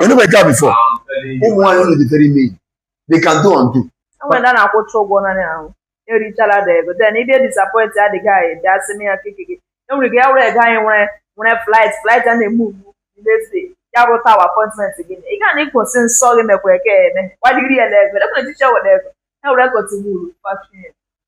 enube nke a before ụmụ nwaanyị unu dịtere ime iyi they can do and undo enwere ndị a na-akwụcha ụgwọ naanị ahụ erichala da ego then ịbịa disappoint adịghị anyị dị asị m ya keke gị enwere gị ya were ego anyị nwere nwere flight flight a na-eme ugbu n'efe ya bụ tawa appointment gị ị gaa na ịkwụsị nsọ gị mekwa eke eme gbaliri ya na ego ekwere tissue were ego ya were cotton wool fashie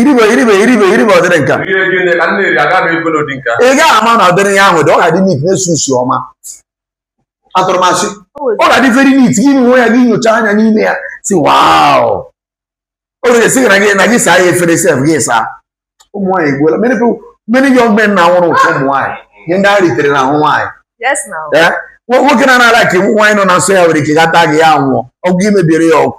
iribe iribe iribe iribe ọdịrị nka ị gaghị ama na ọdịrị ya ahụ dị ọ ga-adị neat na-esi isi ọma atụrụmasị ọ ga-adị very neat gị nwe ya gị nyocha anya n'ime ya sị wow o nwere esi na gị na gị saa ya efere sef gị saa ụmụ nwaanyị egbuola many people many young men na nwụrụ ụfụ ụmụ nwaanyị ihe ndị ha ritere n'ahụ nwaanyị nwoke na-anara ka nwaanyị nọ na nsọ ya nwere ike gata gị ya ṅụọ ọgwụ i mebiere ya ọgwụ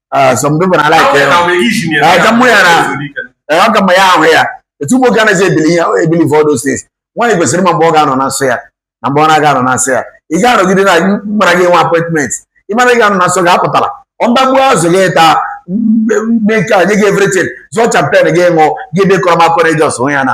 Ah, some people na like ya aja mụ ya na ọ ga ma ya ahụ ya etu amụ ya anaghị ebili ihe ebili for those things nwaanyị kwesịrị ịma mgbe ọ ga-anọ na nsọ ya na mgbe ọ na-aga anọ na nsọ ya ị ga-anọgide na mara gị nwe appointment ị mara gị anọ na nsọ gị apụtala ọndagbu azụ gị taa mee nke a nye gị everything zụọ champagne gị ṅụọ gị dekọrọ m akọrọ eji ọsụ ya na